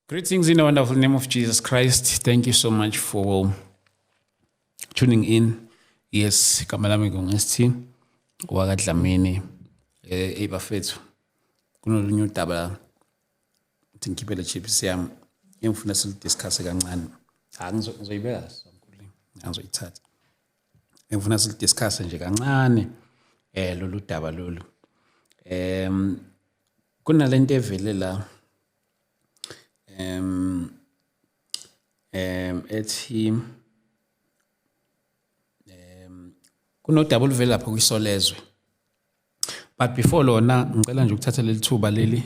Greetings in the wonderful name of Jesus Christ. Thank you so much for tuning in. Yes, igama lami nginguSthi wakadlamini eh bafethu. Kunolunye udaba la. Uthi ngikhiphele chips yami. Engifuna silidiscuss kancane. Angizoyibeka so. angizoyithatha engifuna silidiscusse nje kancane eh lolu daba lolu em kunalento evele la em em ethi em kunodaba oluvela lapha kwisolezwe but before lona ngicela nje ukuthatha leli thuba leli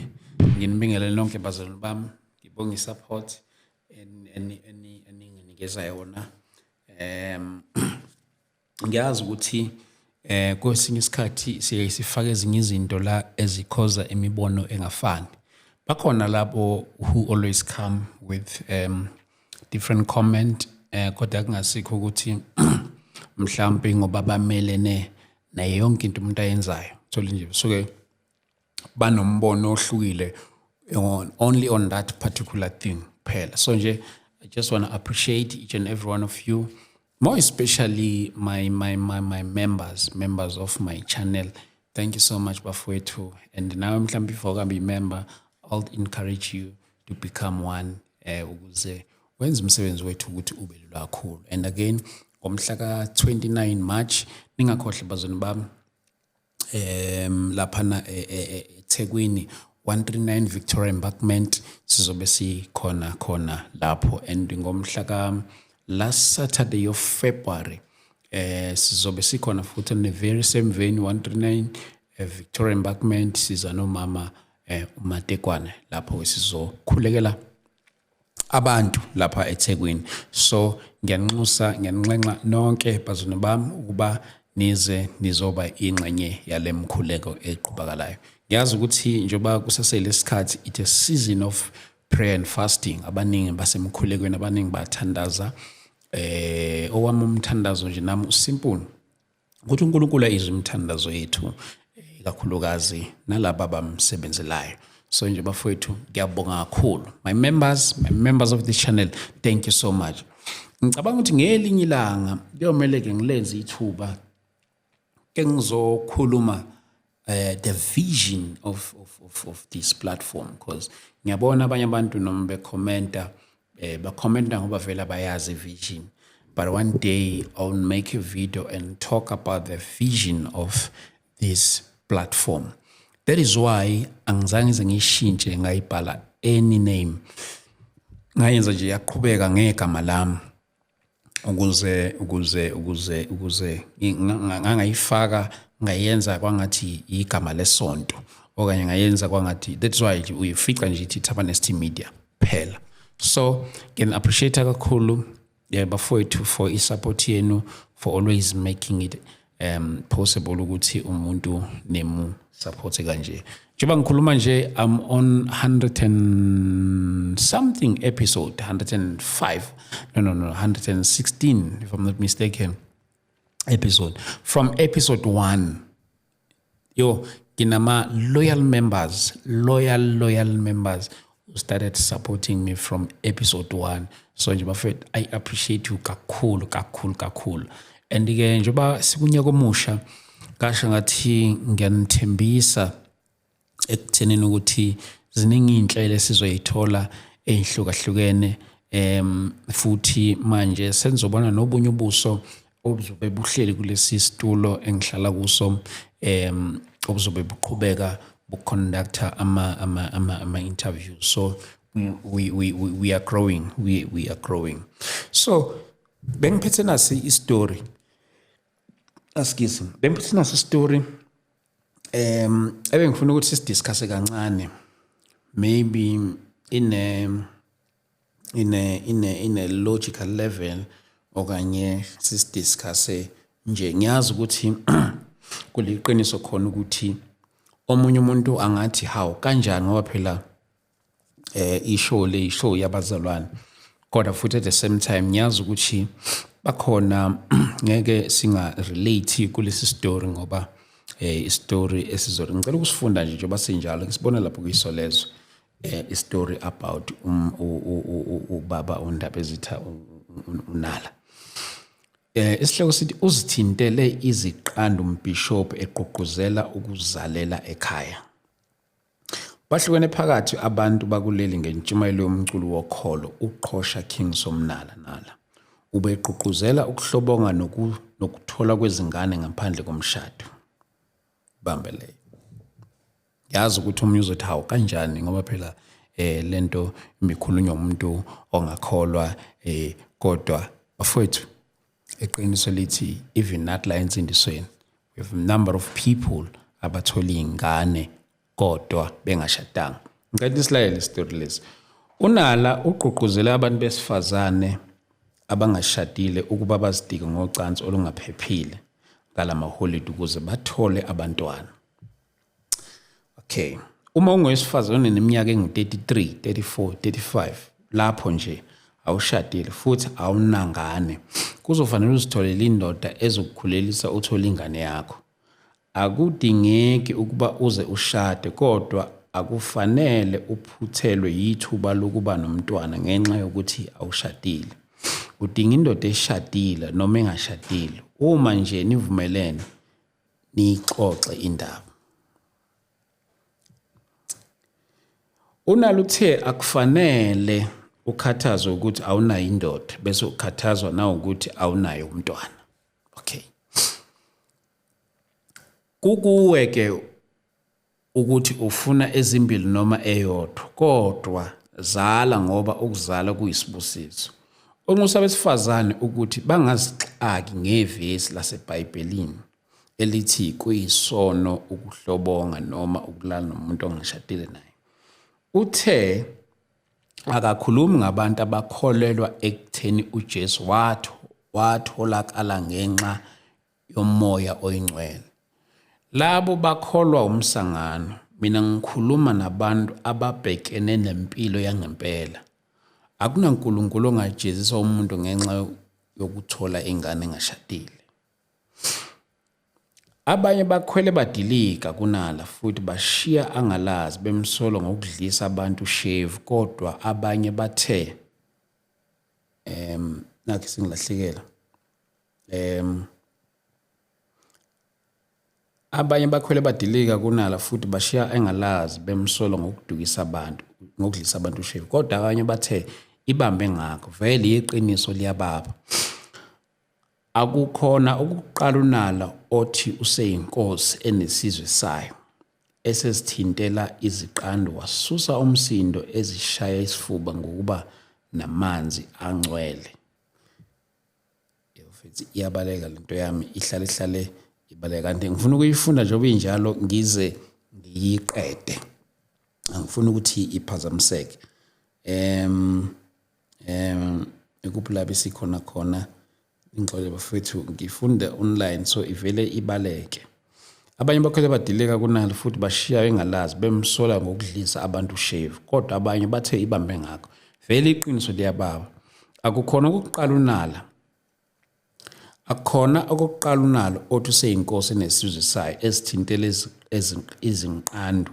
nginibingelele nonke bazalwane bami ngibonge i-support eninginikeza yona um ngiyazi ukuthi eh kwesinye isikhathi siye sifake ezinye izinto la ezikhoza imibono engafani bakhona labo who always come with um different comment eh kodwa kungasikho ukuthi mhlawumbe ngoba bamelene naye yonke into umuntu ayenzayo thole nje suke banombono ohlukile on, only on that particular thing kuphela so nje i just want to appreciate each and every one of you more especially my, my, my, my members members of my channel thank you so much bafowethu and nawe mhlawumbe if awukambe yimember i'll encourage you to become one eh ukuze wenza umsebenzi wethu ukuthi ube lula kakhulu and again ngomhla ka-29 march ningakhohle bazoni bami um laphana e, e, e, ethekwini 139 victoria embarkment sizobe sikhona khona lapho and ngomhla ka last saturday of february eh sizobe sikhona futhi ne very same venue 139 eh, victoria embarkment siza nomama eh umatekwane lapho sizokhulekela abantu lapha eThekwini so ngiyanxusa ngiyanxenxa nonke bazulu bami ukuba nize nizoba ingxenye yalemkhuleko eqhubakalayo ngiyazi ukuthi njengoba kusasele isikhathi it's a season of prayer and fasting abaningi basemkhulekweni abaningi bathandaza eh owami umthandazo nje nami usimple ukuthi uNkulunkulu ayizwe imithandazo yethu ikakhulukazi nalaba abamsebenzelayo so nje bafowethu ngiyabonga kakhulu my members my members of this channel thank you so much ngicabanga ukuthi ngelinye ilanga kuyomele-ke ngilenze ithuba ke ngizokhuluma uh, the vision of, of, of, of this platform because ngiyabona abanye abantu noma bekhomenta eh, bakhomenta ngoba vele abayazi vision but one day i'll make a video and talk about the vision of this platform that is why angizange ngize ngiyishintshe ngayibhala any name ngayenza nje yaqhubeka ngegama lami ukuze ukuze ukuze ukuze ngangayifaka ngayenza kwangathi igama lesonto okanye ngayenza kwangathi that's why uyifica nje ithi Tabanesty Media phela so ngin appreciate kakhulu yeah bafowethu for i support yenu for always making it um possible ukuthi umuntu nemu support kanje njengoba ngikhuluma nje i'm on 100 and something episode 105 no no no 116 if i'm not mistaken episode from episode 1 Yo, nginama loyal members, loyal loyal members who started supporting me from episode 1. So nje bafethu I appreciate you kakhulu kakhulu kakhulu. And ke njengoba sikunyaka omusha kasho ngathi ngiyanithembisa ekuthenini ukuthi ziningi inhlelo esizoyithola ezihlukahlukene em futhi manje senzobona nobunye ubuso obuzobe buhleli kulesi situlo engihlala kuso um obuzobe buqhubeka buconductor ama ama ama ama interview so we we we, we are growing we we are growing so bengiphethe nasi istory askisi bengiphethe nasi istory um ebengifuna ukuthi sidiscuss kancane maybe in a ine ine ine logical level okanye sisidiscusse nje ngiyazi ukuthi kuliqiniso khona ukuthi omunye umuntu angathi hawu kanjani ngoba phela eh ishow le ishow yabazalwane kodwa futhi at the same time ngiyazi ukuthi bakhona ngeke singa relate kulesi story ngoba eh istory esizori ngicela ukusifunda nje njengoba sinjalo ngisibona lapho kuyisolezwe eh, istory about um, ubaba undaba ezitha unala eh isihloko sithi uzithintele iziqandu umbishop egqugquzela ukuzalela ekhaya bahlukene phakathi abantu bakuleli ngentshumayelo yomculo wokholo uqhosha king somnala nala ubegqugquzela ukuhlobonga nokuthola kwezingane ngaphandle komshado bambeleyo yazi ukuthi omunye uzothi hawu kanjani ngoba phela eh lento imikhulunywa umuntu ongakholwa eh kodwa bafowethu eqiniso lithi even not la ensindisweni we have number of people abathola ingane kodwa bengashadanga ngicela isilayele story lesi unala ugqugquzela abantu besifazane abangashadile ukuba bazidike ngocansi olungaphephile ngalamaholiday ukuze bathole abantwana okay uma ungowesifazane oneminyaka engu-33 34 35 lapho nje awushadile futhi awunangane kuzofanele uzitholele indoda ezokukhulelisa uthole ingane yakho akudingeki ukuba uze ushade kodwa akufanele uphuthelwe yithuba lokuba nomntwana ngenxa yokuthi awushadile udinga indoda eshadile noma engashadile uma nje nivumelene niyixoxe indaba Unalo uthe akufanele ukhathazwe ukuthi awunayo indoda bese ukhathazwa na ukuthi awunayo umntwana okay kukuwe ke ukuthi ufuna ezimbili noma eyodwa kodwa zala ngoba ukuzala kuyisibusiso onxusa abesifazane ukuthi bangazixaki ngevesi laseBhayibhelini elithi kuyisono ukuhlobonga noma ukulala nomuntu ongashadile naye uthe akakhulumi ngabantu abakholelwa ekutheni uJesu watho watholakala ngenxa yomoya oyingcwele. Labo bakholwa umsangano, mina ngikhuluma nabantu ababhekene nempilo yangempela. Akunankulunkulu ongajezisa umuntu ngenxa yokuthola ingane engashadile. Abanye bakhwele badilika kunala futhi bashiya angalazi bemsolo ngokudlisa abantu shave kodwa abanye bathe em nakhe singilahlekela um abanye bakhwele badilika kunala futhi bashiya engalazi bemsolo ngokudukisa abantu ngokudlisa abantu ushevu kodwa abanye bathe ibambe ngakho vele iqiniso liyababa akukhona ukuqala unala othi useyinkosi enesizwe sayo esesithintela iziqandu wasusa umsindo ezishaya isifuba ngokuba namanzi angcwele futhi iyabaleka lento yami ihlale ihlale ibaleka kanti ngifuna ukuyifunda njengoba injalo ngize ngiyiqede angifuni ukuthi iphazamiseke em em ekuphilaba sikhona khona ingxole bafethu ngifunda online so ivele ibaleke Abanye bakhwele badileka kunalo futhi bashiya bengalazi bemsola ngokudlisa abantu ushave kodwa abanye bathe ibambe ngakho. Vele iqiniso liyababa. Akukhona ukuqala unala. Akukhona okokuqala unalo othi useyinkosi nesizwe sayo esithintele izinqandu.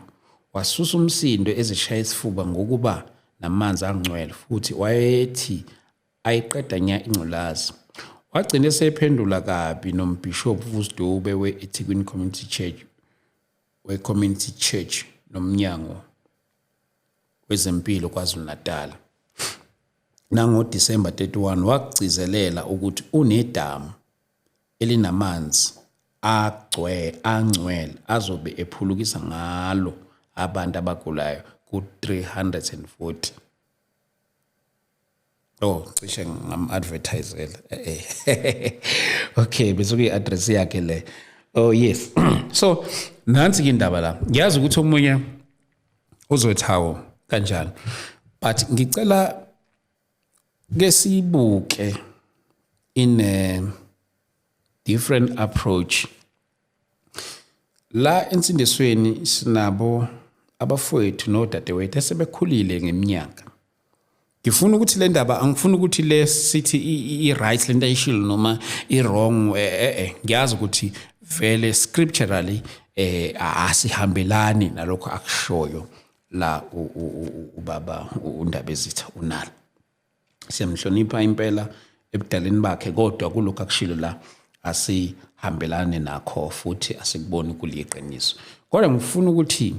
Wasusa umsindo ezishaya isifuba ngokuba namanzi angcwele futhi wayethi ayiqeda nya ingculazi. Wagcina esephendula kabi nombhishobhu Vusdube we-Ethekwini Community Church we-Community Church nomnyango wezempilo KwaZulu-Natal. NangoDisemba 31 wakugcizelela ukuthi unedamu elinamanzi agcwe angcwele azobe ephulukisa ngalo abantu abagulayo ku-340 Oh, cishe ngam-advertisela. okay, bese kuyi-address yakhe le. Oh yes. so nansi ke indaba la. Ngiyazi ukuthi omunye uzothi hawo kanjani. But ngicela ke sibuke in a different approach La ensindisweni sinabo abafowethu nodadewethu esebekhulile ngeminyaka ngifuna ukuthi le ndaba angifuni ukuthi le sithi i-right le nto ayishilo noma i-wrong eh, eh, eh ngiyazi ukuthi vele scripturally eh asihambelani nalokho akushoyo la ubaba undaba ezitha unalo siyamhlonipha impela ebudaleni bakhe kodwa kulokhu akushilo la asihambelane nakho futhi asikuboni kuliqiniso kodwa ngifuna ukuthi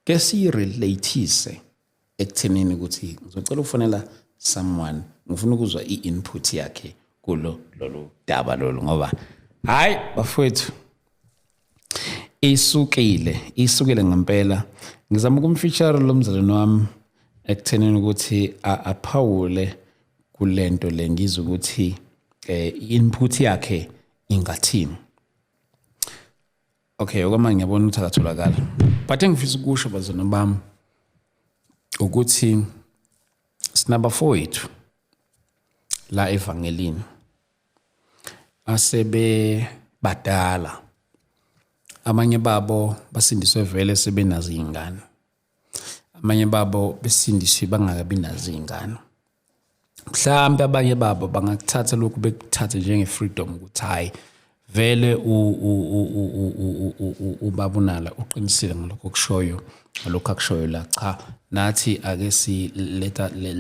ke siyirelathise ekuthenini ukuthi ngizocela ukufonela someone ngifuna ukuzwa i-input yakhe kulo lolu daba lolu ngoba hayi bafowethu isukile isukile ngempela ngizama ukumfeature lo mzalwane wami ekuthenini ukuthi aphawule kulento le ngizwe ukuthi eh input yakhe ingathini okay okwamanje ngiyabona ukuthi akatholakala but engifisa ukusho bazona bami ukuthi sinabafowethu la evangelini asebebadala abanye babo basindiswe vele sebenazo iy'ngane abanye babo besindiswe bangakabi nazo iy'ngane mhlawumbe abanye babo bangakuthatha lokhu bekuthathe njenge-freedom ukuthi hhayi vele ubabunala uqinisile ngalokho kushoyo ngalokho akushoyo la cha nathi ake si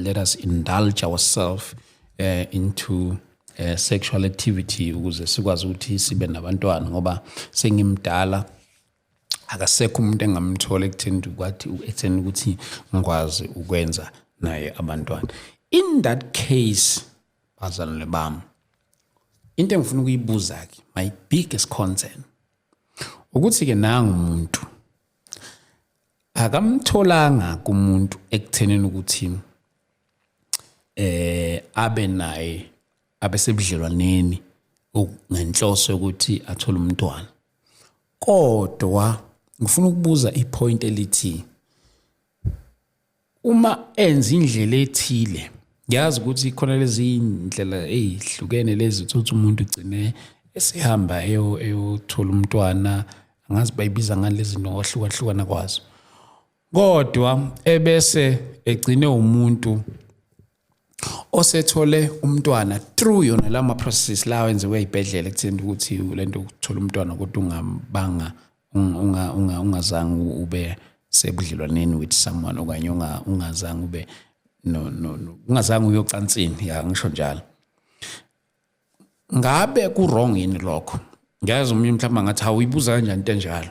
let us indulge ourselves eh into eh, sexual activity ukuze sikwazi ukuthi sibe nabantwana ngoba sengimdala akasekho umuntu engamthola ekutheni kwathi ekutheni ukuthi ngikwazi ukwenza naye abantwana in that case bazalwane bami into engifuna ukuyibuza ke my biggest concern ukuthi ke nangu umuntu akamtholanga kumuntu ekuthenini ukuthi eh abe naye abesebudlelwaneni ngenhloso yokuthi athole umntwana kodwa ngifuna ukubuza ipoint elithi uma enza indlela ethile ngiyazi ukuthi khona lezi iy'ndlela ey'hlukene lezi ukuthi umuntu ugcine esehamba eyothola umntwana angazi bayibiza ngani lezi nto ngokwahlukahlukana kwazo kodwa ebese egcine umuntu osethole umntwana through yona la ma processes lawa enziwe ezibhedlela ekutheni ukuthi lento ukuthola umntwana kodwa ungabanga unga unga ungazange ube sebudlelwaneni with someone okanye unga ungazange ube no no ungazange uyocansini ya ngisho njalo ngabe ku wrong yini lokho ngiyazi umuntu mhlawumbe ngathi awuyibuza kanjani into enjalo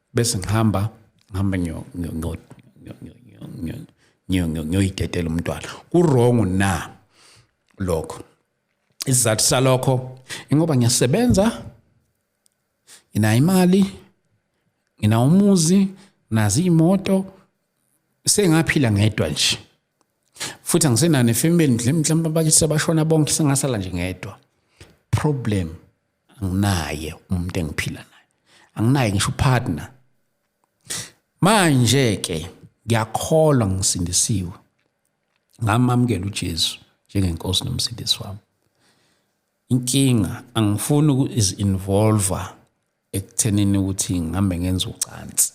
bese ngihamba ngihamba ngiyoyidedela umntwana kurongo na lokho isizathu salokho ingoba ngiyasebenza nginayo imali nginawo umuzi nazi iy'moto sengaphila ngedwa nje futhi angisenane family mhlawumbe abakise bashona bonke sengasala nje ngedwa problem anginaye umuntu engiphila naye anginaye ngisho upartner manje ke ngiyakholwa ngisindisiwe ngamamukela uJesu njengenkosi nomsindisi wami inkinga angifuni ukuzi-involva ekuthenini ukuthi ngihambe ngenza ucansi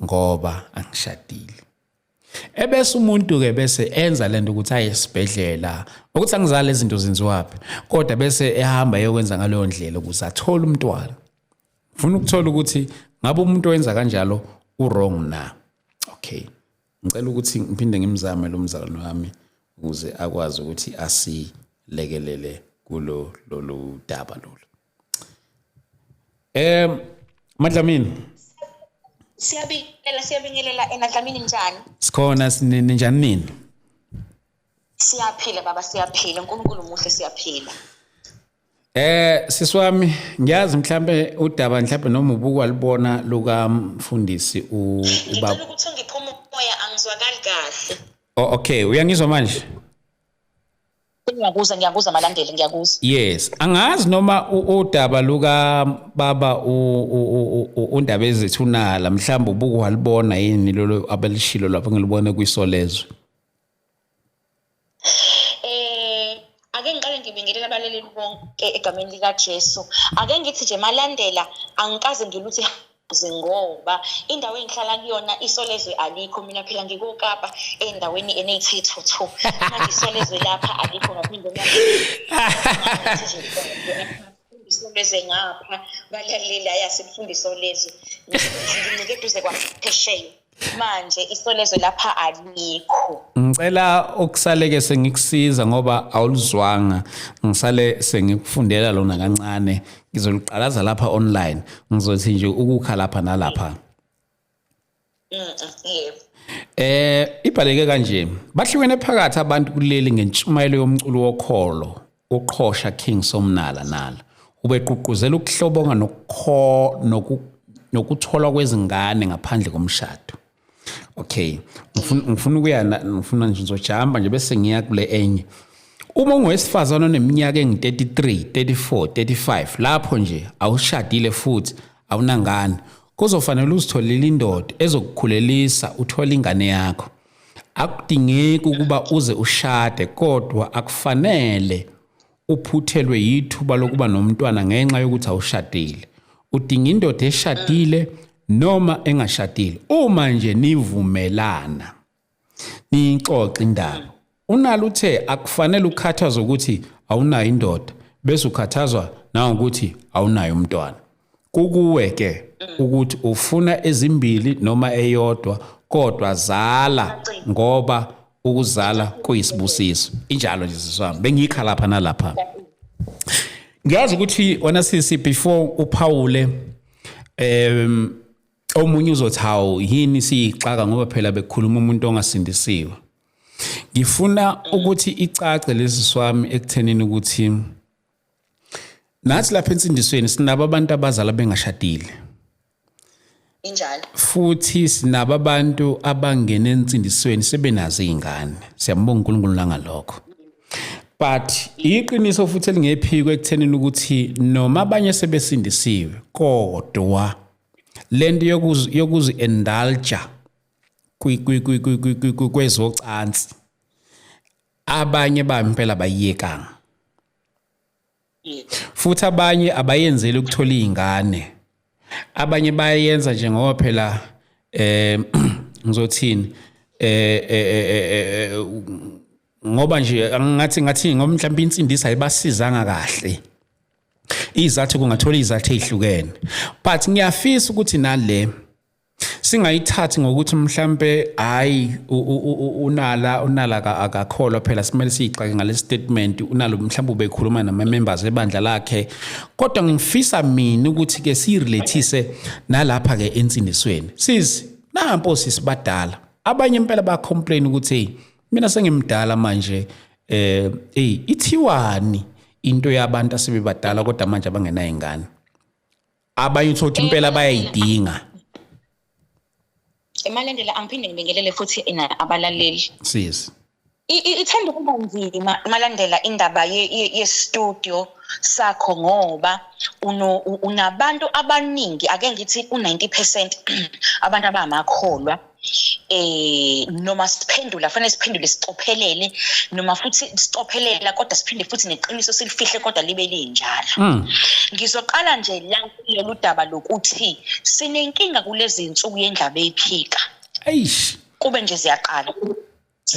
ngoba angishadile ebese umuntu ke bese enza lento ukuthi aye esibhedlela ukuthi angizali izinto zenziwaphi kodwa bese ehamba eyokwenza ngaleyo ndlela ukuze athole umntwana ufuna ukuthola ukuthi ngabe umuntu owenza kanjalo uwrong na okay ngicela ukuthi ngiphinde ngimzame lo mzalwane wami ukuze akwazi ukuthi asilekelele kulo lolu daba lolu Eh Madlamini. Siyabingelela siyabingelela ena Dlamini njani? Sikhona ninjani nini? Siyaphila baba siyaphila uNkulunkulu muhle siyaphila. Eh siswami ngiyazi mhlambe udaba mhlambe noma ubuku alibona luka mfundisi u ubaba. Ngicela ukuthi ngiphuma umoya angizwakali kahle. Oh okay uyangizwa manje? Ngiyakuza ngiyakuza malandeli ngiyakuza. Yes, angazi noma udaba luka baba undaba ezithunala mhlawumbe ubuku walibona yini lolo abelishilo lapho ngilibone kwisolezwe. Eh ake ngiqale ngibingelele abaleleli bonke egameni lika Jesu. Ake ngithi nje malandela angikaze ngiluthi ngoba indawo engihlala kuyona isolezwe alikho mina phela ngikokapa endaweni eneyithethuthu manje isolezwe lapha alikho ngaphinde isolezwe ngapha balaleli ayasifundisa olezwe ngincike eduze kwaphesheya manje isolezwe lapha alikho ngicela ukusaleke sengikusiza ngoba awulizwanga ngisale sengikufundela lona kancane ngizoliqalaza lapha online ngizothi nje ukukha lapha nalapha yebo eh ibhaleke kanje bahlukene phakathi abantu kuleli ngentshumayelo yomculo wokholo Uqhosha King Somnala nala ubeququzela ukuhlobonga nokukho noku nokutholwa kwezingane ngaphandle komshado okay ngifuna ukuya ngifuna nje ngizojamba nje bese ngiya kule enye uma ungowesifazane oneminyaka engu-33 34 35 lapho nje awushadile futhi awunangane kuzofanele uzitholele indoda ezokukhulelisa uthole ingane yakho akudingeki ukuba uze ushade kodwa akufanele uphuthelwe yithuba lokuba nomntwana ngenxa yokuthi awushadile udinga indoda eshadile noma engashadile uma nje nivumelana niyixoxe indaba Unalo uthe akufanele ukhathazwe ukuthi awunayo indoda bese ukhathazwa nangokuthi awunayo umntwana. Kukuwe ke ukuthi ufuna ezimbili noma eyodwa kodwa zala ngoba ukuzala kuyisibusiso. Injalo nje siswami. Bengikha lapha nalapha. Ngiyazi ukuthi wena sisi before uphawule um omunye uzothi hawu yini siyixaka ngoba phela bekhuluma umuntu ongasindisiwe ngifuna ukuthi icace lesi swami ekuthenini ukuthi nathi lapha ensindisweni sinabo abantu abazala bengashadile injalo futhi sinabo abantu abangena ensindisweni sebenazo izingane siyambonga uNkulunkulu nangalokho but iqiniso futhi elingephiko ekuthenini ukuthi noma abanye sebesindisiwe kodwa lento yokuzi yokuzi indulge kwezocansi abanye bampela bayiyekanga futhi abanye abayenzeli ukuthola izingane abanye bayenza nje ngoba phela eh ngizothini eh, eh, eh, eh ngoba nje ngathi ngathi ngoba mhlawumbe insindisa ayibasizanga kahle izathu kungathola izathu ezihlukene but ngiyafisa ukuthi nale singayithathi ngokuthi mhlambe hayi unala unala akakholwa phela simele siyixake ngale statement unalo mhlambe ubekhuluma nama members ebandla lakhe kodwa ngifisa mina ukuthi ke sirelathise nalapha ke ensindisweni sis nampo sisibadala abanye impela ba complain ukuthi mina sengimdala manje eh hey ithiwani into yabantu asebebadala kodwa manje abangenayo ingane abanye uthola ukuthi impela bayayidinga emalendela angiphinde ngibingelele futhi ina abalaleli sisi ithanda ukuba nzima malandela indaba ye-studio sakho ngoba unabantu abaningi ake ngithi u-90 percent abantu abamakholwa eh noma siphendula fanele siphendule sicophelele noma futhi sicophelela kodwa siphinde futhi neqiniso silifihle kodwa libe linjalo hmm. ngizoqala nje la kulolu daba lokuthi sinenkinga kulezi insuku yendlaba eyiphika eish kube nje ziyaqala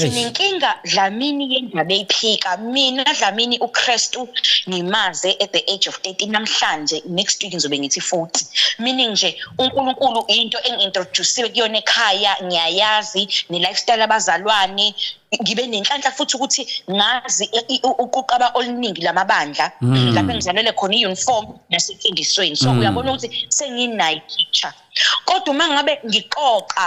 sinenkinga dlamini yendaba eyiphika mina dlamini ukristu ngimaze at the age of 13 namhlanje next week ngizobe ngithi 40 meaning nje unkulunkulu into engi-introduciwe kuyona ekhaya ngiyayazi ne-lifestyle abazalwane ngibe nenhlanhla futhi ukuthi ngazi uquqaba oluningi lamabandla hmm. lapho engizalele khona i-uniform nasefundisweni so hmm. uyabona ukuthi senginayi picture kodwa uma ngabe ngixoxa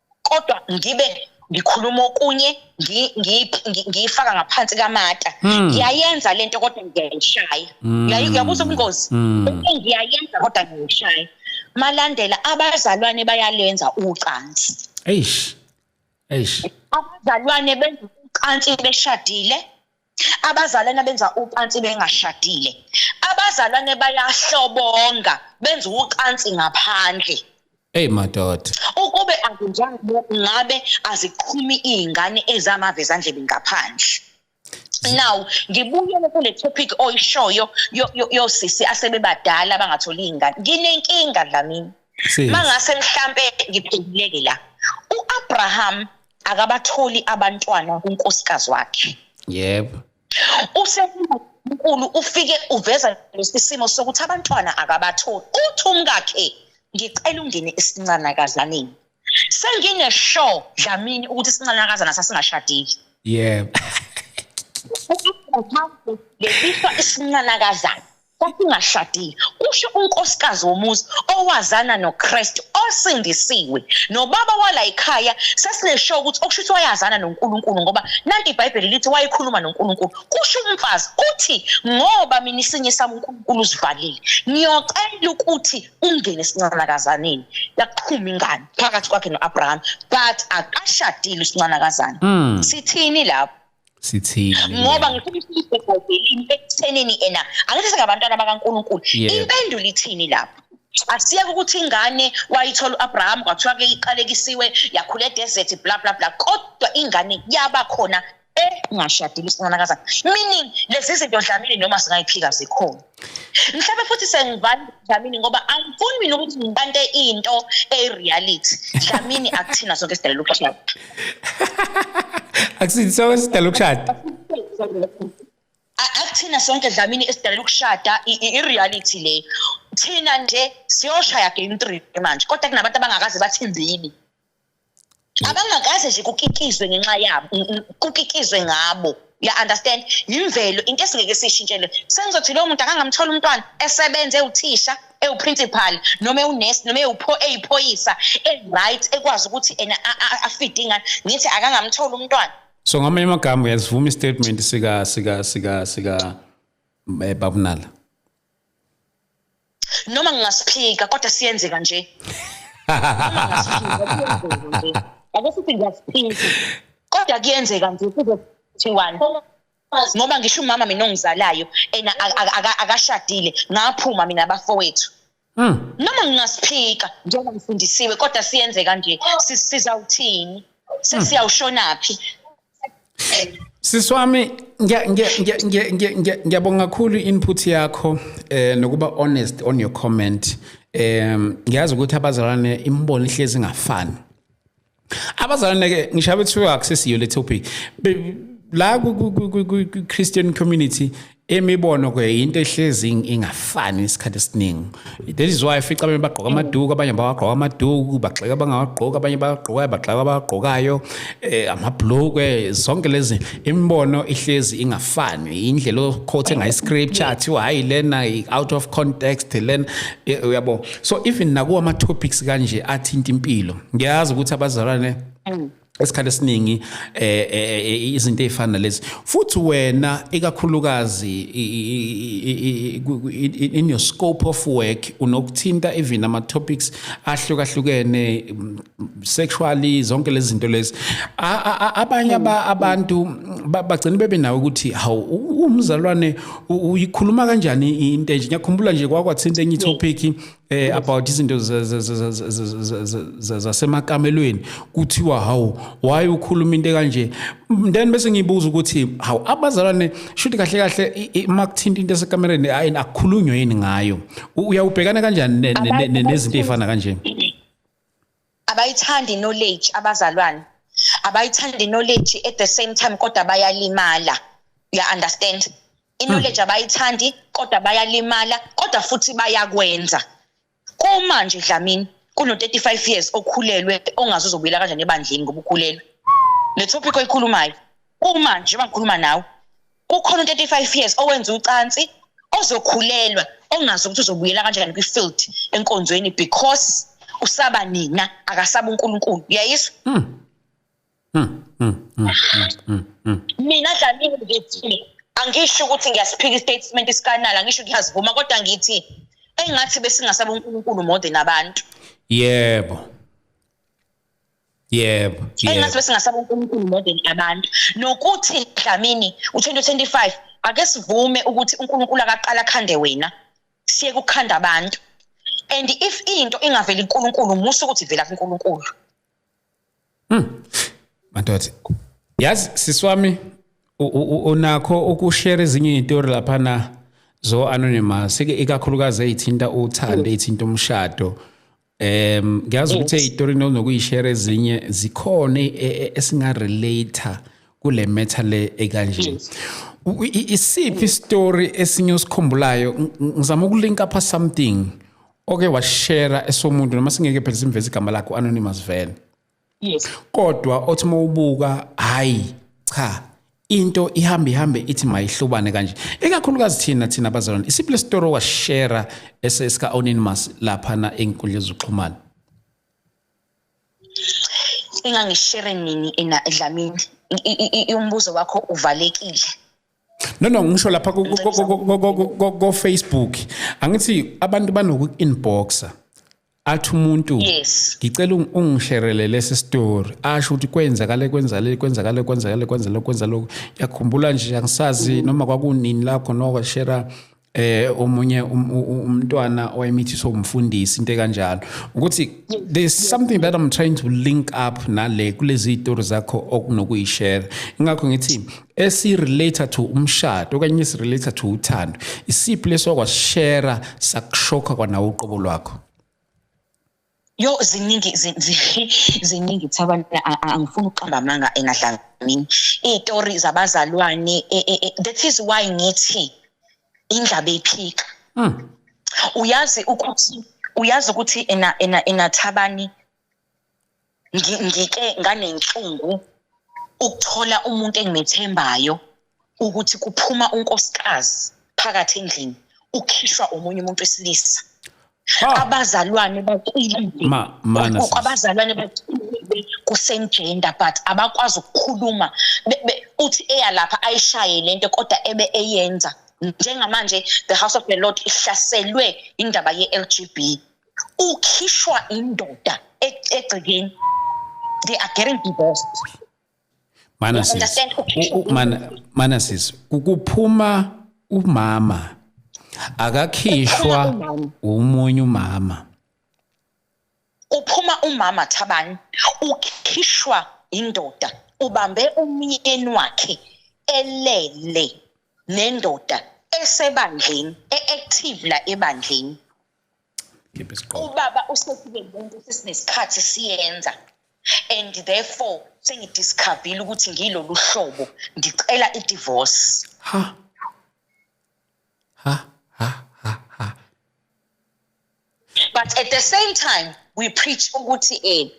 kodwa ngibe ngikhuluma okunye ngiyifaka ngaphansi kamata hmm. ngiyayenza lento kodwa ngiyayishaya hmm. uyabuza ubungozi hmm. ngiyayenza kodwa ngiyishaya malandela abazalwane bayalenza ucansi eish eish abazalwane benza ucansi beshadile abazalwane benza ucansi bengashadile abazalwane bayahlobonga benza ucansi ngaphandle Hey madoda. Ukube akunjalo ngabe aziqhumi izingane ezamave zandlebe ngaphandle. Now ngibuyele kule topic oyishoyo yosisi asebebadala abangatholi izingane. Nginenkinga la mina. Mangase mhlambe ngiphenduleke la. UAbraham akabatholi abantwana kunkosikazi wakhe yebo usenkulu ufike uveza lesisimo sokuthi abantwana akabatholi uthi umkakhe ngicela ungene esincanakazaneni sengine show dlamini ukuthi isincanakazana sasingashadile yebo lesiswa isincanakazana kwakungashadile kusho unkosikazi womuzi owazana noKristu osindisiwe nobaba wala ekhaya sesinesho ukuthi okusho ukuthi wayazana noNkulunkulu ngoba nanti iBhayibheli lithi wayekhuluma noNkulunkulu kusho umfazi uthi ngoba mina isinye sami uNkulunkulu usivalile ngiyocela ukuthi ungene sincanakazaneni yaqhuma ingane phakathi kwakhe noAbraham but akashadile usincanakazana hmm. sithini lapho sithini ngoba ngifuna isibhedlelini ekuthenini ena angithi singabantwana bakaNkuluNkulu impendulo ithini lapho asiyeke ukuthi ingane wayithola uAbraham kwathiwa ke iqalekisiwe yakhula edesert bla bla bla kodwa ingane yaba khona engashadile isinanakazana meaning lezi zinto dlamini noma singayiphika zikhona mhlawumbe futhi sengivana Dlamini ngoba angifuni mina ukuthi ngibante into eyireality Dlamini akuthina sonke sidala lokushada akuthina sonke sidala lokushada akuthina sonke Dlamini esidala lokushada ireality le thina nje siyoshaya game 3 manje kodwa kunabantu abangakaze bathi mbili abangakaze nje kukikizwe ngenxa yabo kukikizwe ngabo ya understand yimvelo into esingeke sishintshele sengizothi lo muntu akangamthola umntwana esebenze uthisha ewuprincipal noma ewunurse noma ewupho eyiphoyisa eright ekwazi ukuthi ena afide ingane ngithi akangamthola umntwana so ngamanye amagama uyasivuma istatement sika sika sika sika eh, babunala noma ngingasiphika kodwa siyenzeka nje ake sithi ngiyasiphika kodwa kuyenzeka nje kuzothiwani ngoba ngisho umama mina ongizalayo ena akashadile ngaphuma mina bafowethu hmm. noma ngingasiphika njengoba ngifundisiwe kodwa siyenzeka nje sizawuthini hmm. sesiyawushonaphi Siswami ngiyabonga kakhulu input yakho eh nokuba honest on your comment em ngiyazi ukuthi abazalwane imibono ihlezi ingafani abazalwane ke ngisho abethiwa akusesiyo le topic la ku Christian community imibono ke into ehlezi ingafani isikhathi esiningi that is why fica abanye bagqoka amaduku abanye bawagqoka amaduku bagxeka abangawagqoki abanye bagqokayo bagxeka abagqokayo um eh, amabhlukwe zonke lezi imibono ihlezi ingafani indlela okhothe ngayo iscripture athiwa hhayi lena out of context lena eh, uyabo so even nakuwa ama-topics kanje athinta impilo ngiyazi ukuthi abazalwane mm. esikhathi esiningi eh, eh, eh, izinto ezifana nalezi futhi wena ikakhulukazi in your scope of work unokuthinta even ama topics ahlukahlukene mm, sexually zonke lezi zinto lezi abanye abantu bagcina bebe nawe ukuthi hawu umzalwane uyikhuluma kanjani into enje ngiyakhumbula nje kwakwathinta enye topic eh about izinto zasemakamelweni kuthiwa hawu why ukhuluma into kanje then bese ngibuza ukuthi hawu abazalwane shuthi kahle kahle uma kuthinta into esekamereni ayini akukhulunywe yini ngayo uyawubhekana kanjani nezinto ezifana kanje abayithandi knowledge abazalwane abayithandi knowledge at the same time kodwa bayalimala uya understand iknowledge hmm. abayithandi kodwa bayalimala kodwa futhi bayakwenza kuma nje dlamini kuno 35 years okhulelwe ongazi uzobuyela kanjani ebandleni ngoba ukhulelwe le topic oyikhulumayo kuma nje njengoba ngikhuluma nawe kukhona u-35 years owenza ucansi ozokhulelwa ongazi ukuthi uzobuyela kanjani kwi-field enkonzweni because usaba nina akasaba uNkulunkulu uyayizwa hmm. Hmm, hmm, mina dlamini ngithi angisho ukuthi ngiyasiphika istatement isikanala angisho ngiyazivuma kodwa ngithi engathi besingasaba uNkulunkulu more than abantu yebo yebo engathi besingasaba uNkulunkulu more than abantu nokuthi Dlamini u2025 ake sivume ukuthi uNkulunkulu akaqala khande wena siye kukhanda abantu and if into ingaveli uNkulunkulu musu ukuthi vela kuNkulunkulu mhm madoda yazi siswami unakho ukushare ezinye izitori lapha na zo anonymous ikakhulukazi ezithinta uthando ezithinta umshado Em ngiyazi ukuthi istory nokuyishare ezinye zikhona e, e, esinga relater kule matter le ekanje. Isiphi story esinye osikhumbulayo ngizama ukulinka pha something oke washare esomuntu noma singeke phela simveze igama lakho anonymous vele. yes kodwa othi mawubuka hayi cha into ihamba ihambe ithi mayihlobane kanje ikakhulukazi thina thina abazalwane isiphi lesitori washare esesika anonymous lapha na enkundla zokuxhumana engangishere nini ena edlamini umbuzo wakho uvalekile No no ngisho lapha ko Facebook angithi abantu banoku inboxer athi umuntu yes ngicela ungisherele lesi story asho ukuthi kwenzakale kwenzale kwenzakale kwenzakale kwenzale kwenza lokho yakhumbula nje angisazi noma kwakunini lakho noko shera eh omunye um, umntwana owayemithiswa umfundisi into kanjalo ukuthi there's something that I'm trying to link up nale kulezi story zakho okunokuyishare ingakho ngithi esirelate to umshado okanye esirelate to uthando isiphi leso kwashare sakushoka kwanawo uqobo lwakho yo ziningi ziningi thabana angifuni ukuqamba amanga engadlanga mina iy'tori zabazalwane e, e, e, that is why ngithi indlaba eyiphika hmm. uyazi ukuthi uyazi ukuthi ena ena enathabani ngike nganenhlungu ukuthola umuntu engimethembayo ukuthi kuphuma unkosikazi phakathi endlini ukhishwa omunye umuntu wesilisa ah. abazalwane baqilile abazalwane baqilile kusengender but abakwazi ukukhuluma uthi eyalapha ayishaye lento kodwa ebe eyenza njengamanje the house of the lord ihlaselwe indaba ye-lgb ukhishwa indoda e-, egcekeni they are getting divorced mana sis mana mana sis ukuphuma umama akakhishwa umunye umama uphuma umama thabani ukhishwa indoda ubambe umyeni wakhe elele nendoda esebandleni e-active la ebandleni ubaba usekube muntu sesinesikhathi siyenza and therefore sengidiscoverile ukuthi ngilolu hlobo ngicela i-divorce ha ha ha ha ha but at the same time we preach ukuthi eh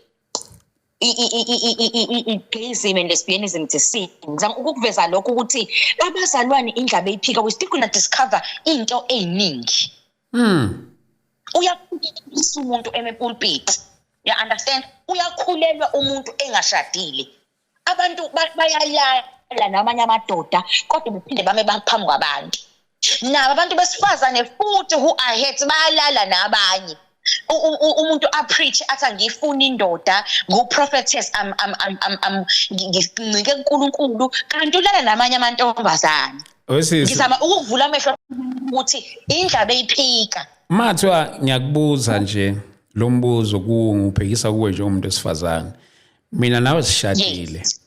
i-gayism and lesbianism it's a sin ngizama ukukuveza lokho ukuthi abazalwane indlaba eyiphika we still gonna discover into eyiningi mm uyakhulisa umuntu emepulpit ya understand uyakhulelwa umuntu engashadile abantu bayayala namanye amadoda kodwa bephinde bame baphambi kwabantu nabo abantu besifazane futhi who are hurt bayalala nabanye umuntu apreach athi angiyifuni indoda ngu-prophetess ngincike kunkulunkulu kanti ulala namanye amantombazane wesisi ngizama ukuvula amehlo ukuthi indlaba eyiphika mathiwa ngiyakubuza nje lo mbuzo kuwo ngubhekisa kuwe nje umuntu wesifazane mina nawe sishadile yes.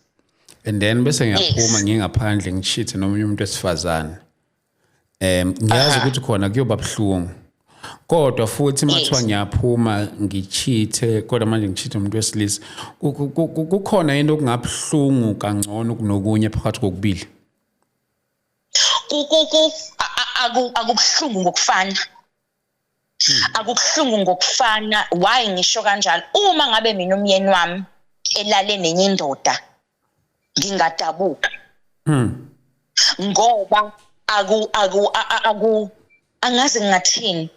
and then bese ngiyaphuma yes. ngingaphandle ngishithe nomunye umuntu wesifazane um ngiyazi ukuthi khona kuyoba buhlungu kodwa futhi mathiwa yes. ngiyaphuma ngichithe kodwa manje ngichithe umuntu wesilisa kukhona into okungabuhlungu kangcono kunokunye phakathi kokubili kukuku akubuhlungu ngokufana hmm. akubuhlungu ngokufana why ngisho kanjalo uma ngabe mina umyeni wami elale nenye indoda ngingadabuka hmm. ngoba aku aku aku angazi ngingathini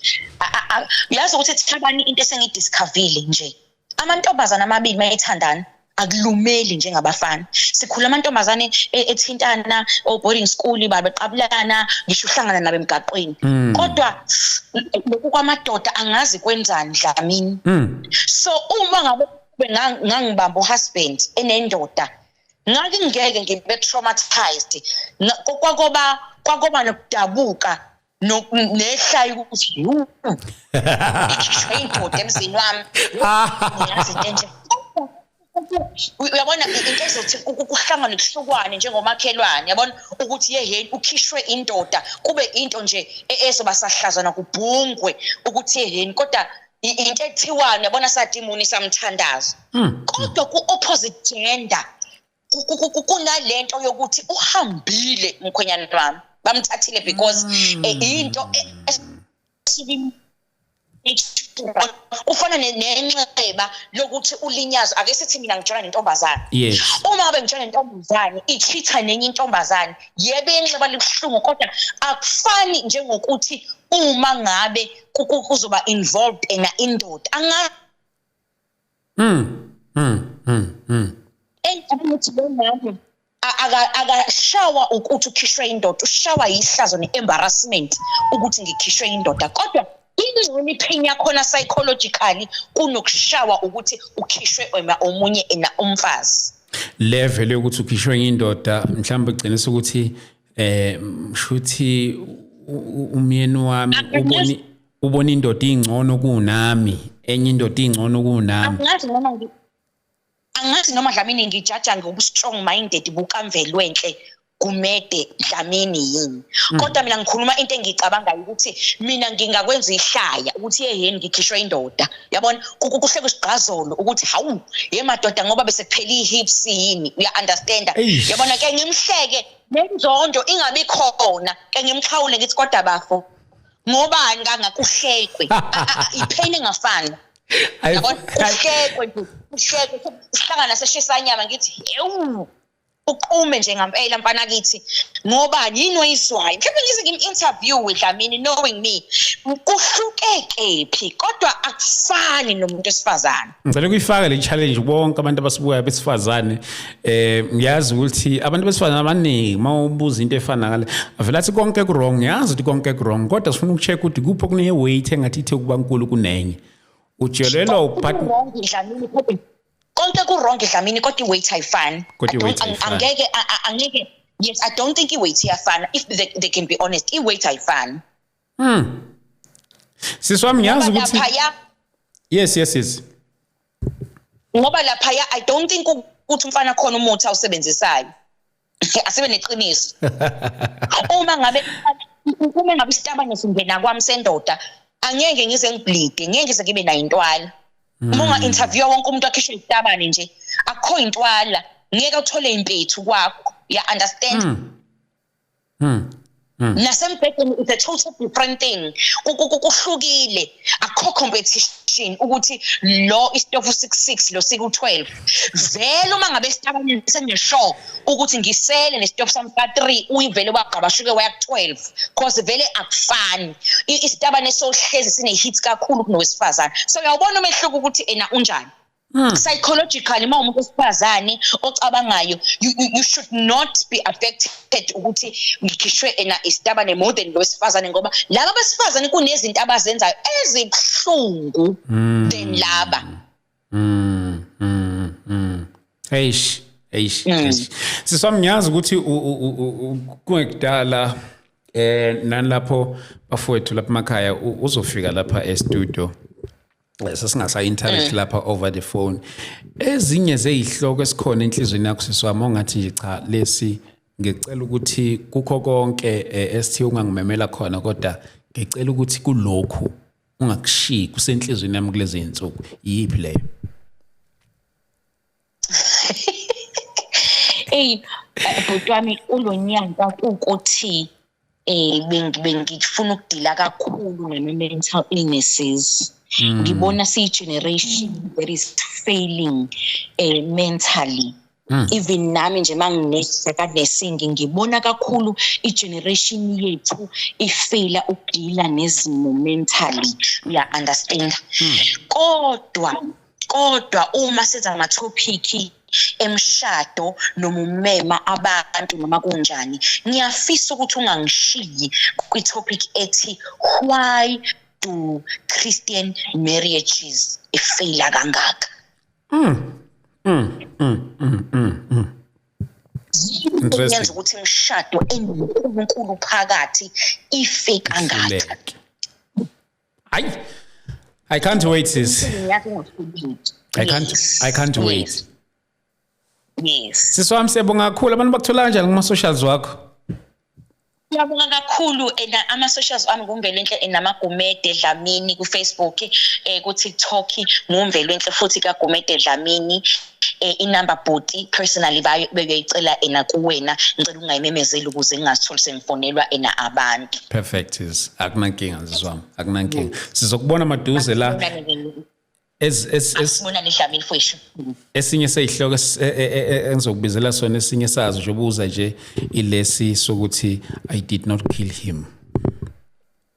uyazi ukuthi thabani into esengidiscoverile nje amantombazana amabili mayethandana akulumeli njengabafana sikhula amantombazane e, ethintana o boarding school babeqabulana ngisho uhlangana nabe emgaqweni mm. kodwa lokhu kwamadoda angazi kwenzani dlamini mm. so uma ngabe ngangibamba uhusband enendoda ngakingeke ngibe traumatized kwakoba kwakoba nokudabuka nehlayi ukuthi yu ikhishwe indoda emzini wami ngiyazi into enje uyabona into ezothi kuhlangane kuhlukwane njengomakhelwane yabona ukuthi yeheni ukhishwe indoda kube into nje e-, ezoba sahlazana kubhungwe ukuthi yeheni kodwa into ekuthiwayo yabona satimuni samthandazo hmm. kodwa ku-opposite gender kunalento yokuthi uhambile mkhwenyana wami bamthathile because hmm. eh, into e-, kufana nenxeba lokuthi ulinyazwa ake sithi mina ngitshela nentombazane yes uma ngabe ngitshela nentombazane ichitha nenye intombazane yebe inxeba libuhlungu kodwa akufani njengokuthi uma ngabe kuzoba involved ena indoda angazi mm mm mm mm engathi lo mama akashawa ukuthi ukhishwe indoda ushawa yihlazo ne-embarrassment ukuthi ngikhishwe indoda kodwa ingcono ipain yakhona psychologically kunokushawa ukuthi ukhishwe omunye ena umfazi level yokuthi ukhishwe indoda mhlawumbe kugcina ukuthi eh shuthi umyeni wami uboni ubona indoda ingcono kunami enye indoda ingcono kunami angazi noma ngi angazi noma Dlamini ngijaja ngobu strong minded bukamvelwenhle kumede Dlamini yini hmm. kodwa mina ngikhuluma into engicabangayo ukuthi mina ngingakwenza ihlaya ukuthi yeheni ngikhishwe indoda yabona kuhle kusigqazolo ukuthi hawu ye madoda ngoba bese kuphela ihips yini uya understand yabona ke ngimhleke nenzondo ingabi khona ke ngimxhawule ngithi kodwa bafo ngobani kangakuhlekwe ipheni ngafani yabona kuhlekwe nje kuhlekwe sihlangana seshisa inyama ngithi hewu uqume nje ngampela mfana kithi ngoba yini oyizwayo mhlawumbe ngize ngim-interview dlamini knowing me kuhlukekephi kodwa akufani nomuntu wesifazane ngicela ukuyifaka le challenge bonke abantu abasibukayo besifazane eh ngiyazi ukuthi abantu besifazane abaningi uma ubuza into efana ngale avela athi konke kurong ngiyazi ukuthi konke kurong kodwa sifuna ukucheck ukuthi kuphi okune weight engathi ithe ukuba nkulu kunenye ujelelwa upartner konke kurong dlamini kodwa iweight ayifani angeke angeke yes i don't think iweight iyafana if they, they can be honest iweight ayifani mm. sisi wami ngiyazi ukuthi yes yes yes ngoba laphaya i don't think ukuthi umfana khona umuthi awusebenzisayo asibe neqiniso uma ngabe uma ngabe isitabane singena kwami sendoda angeke ngize ngibleede ngeke ngize ngibe nayo intwala hmm. uma unga interview wonke umuntu akhishwe isitabane nje akukho intwala ngeke uthole impethu kwakho ya understand hmm. Hmm. Hmm. nasembhedeni it's a total different thing kuhlukile akho competition ukuthi lo istofu 66 lo siku 12 vele uma ngabe sitabanye seneshow ukuthi ngisele nestofu sami ka 3 uyivele ubagqabashuke waya ku 12 because vele akufani isitabane sohlezi sine hits kakhulu kunowesifazana so uyawubona umehluko ukuthi ena unjani Mm. psychologically uma umuntu wesifazane ocabangayo you, you, you should not be affected ukuthi ngikhishwe ena isitabane more than lo wesifazane ngoba laba besifazane kunezinto abazenzayo ezibuhlungu mm. than laba mm. Mm. Mm. eish eish mm. siswami ngiyazi ukuthi kungekudala eh nalapho bafowethu lapha emakhaya uzofika lapha e studio sesingasa interact eh. lapha over the phone ezinye zezihloko esikhona enhlizweni yakho siswami ongathi nje cha lesi ngicela ukuthi kukho konke eh, esithi ungangimemela khona kodwa ngicela ukuthi kulokhu ungakushiyi kusenhlizweni yami kulezi zinsuku yiphi leyo eyi eh, bhuti wami kulo nyaka kuwukuthi eh bengifuna ukudila kakhulu ngama mental illnesses mm. ngibona siyi generation that is failing eh mentally mm. even nami nje manginese kanesingi ngibona kakhulu i generation yethu ifela ukudila nezimo mentally ya understand mm. kodwa kodwa uma siza ama topic emshado noma umema abantu noma kunjani ngiyafisa ukuthi ungangishiyi kwi topic ethi why do christian marriages ifaila kangaka mm mm mm mm mm, mm. yenza ukuthi imishado enoNkulunkulu phakathi ife kangaka hayi i can't wait sis i can't i can't wait yes sisi wami siyabonga kakhulu abantu bakuthola kanjani kuma socials wakho Ngiyabonga kakhulu ena eh, ama socials ami kuMvelenhle eh, namagumede Dlamini ku Facebook eh ku TikTok nguMvelenhle futhi kaGumede Dlamini eh, inumber bhuti personally bayo beyoyicela ena kuwena ngicela ungayimemezeli ukuze ngingatholi sengifonelwa ena abantu perfect is akunankinga nzizwami akunankinga sizokubona maduze la esinye seyihloko e- e- e- engizokubizela sona esinye sazo nje ubuza nje ilesi sokuthi i did not kill him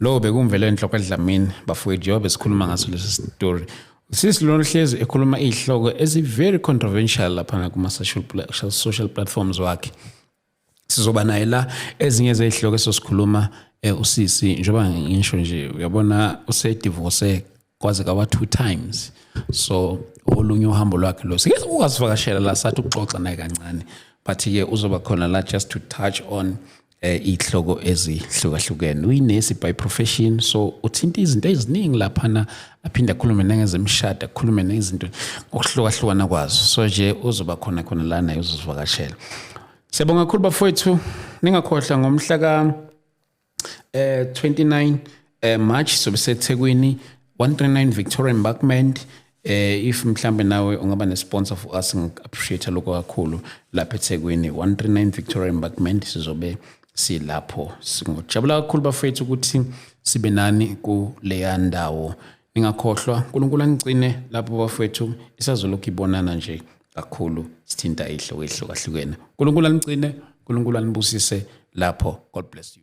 Lo bekumvele enhloko edlamini bafowethu yobe sikhuluma ngaso lesi story. Sisi lona hlezi ekhuluma izihloko ezi very controversial lapha kuma social social platforms wakhe. Sizoba naye la ezinye zezihloko esosikhuluma eh, usisi njengoba ngisho nje uyabona usedivorce kwaze kawa two times so olunye uhambo lwakhe lo sike ukasivakashela la sathi ukuxoxa naye kancane but ke uzoba khona la just to touch on eh ihloko ezihlukahlukene uyinesi by profession so uthinta izinto eziningi lapha na aphinde akhulume nangezemshado akhulume nezinto okuhlukahlukana kwazo so nje uzoba khona khona la naye uzozivakashela Siyabonga kakhulu bafowethu ningakhohlwa ngomhla ka eh 29 eh March sobe seThekwini 139 Victoria Embankment eh if mhlambe nawe ungaba ne sponsor for us ngi appreciate lokho kakhulu lapha eThekwini 139 Victoria Embankment sizobe silapho singojabula kakhulu bafethu ukuthi sibe nani kuleya ndawo ningakhohlwa unkulunkulu anicine lapho bafowethu isazolokhu ibonana nje kakhulu sithinta ihloko ehlukahlukene unkulunkulu anicine unkulunkulu anibusise lapho god bless you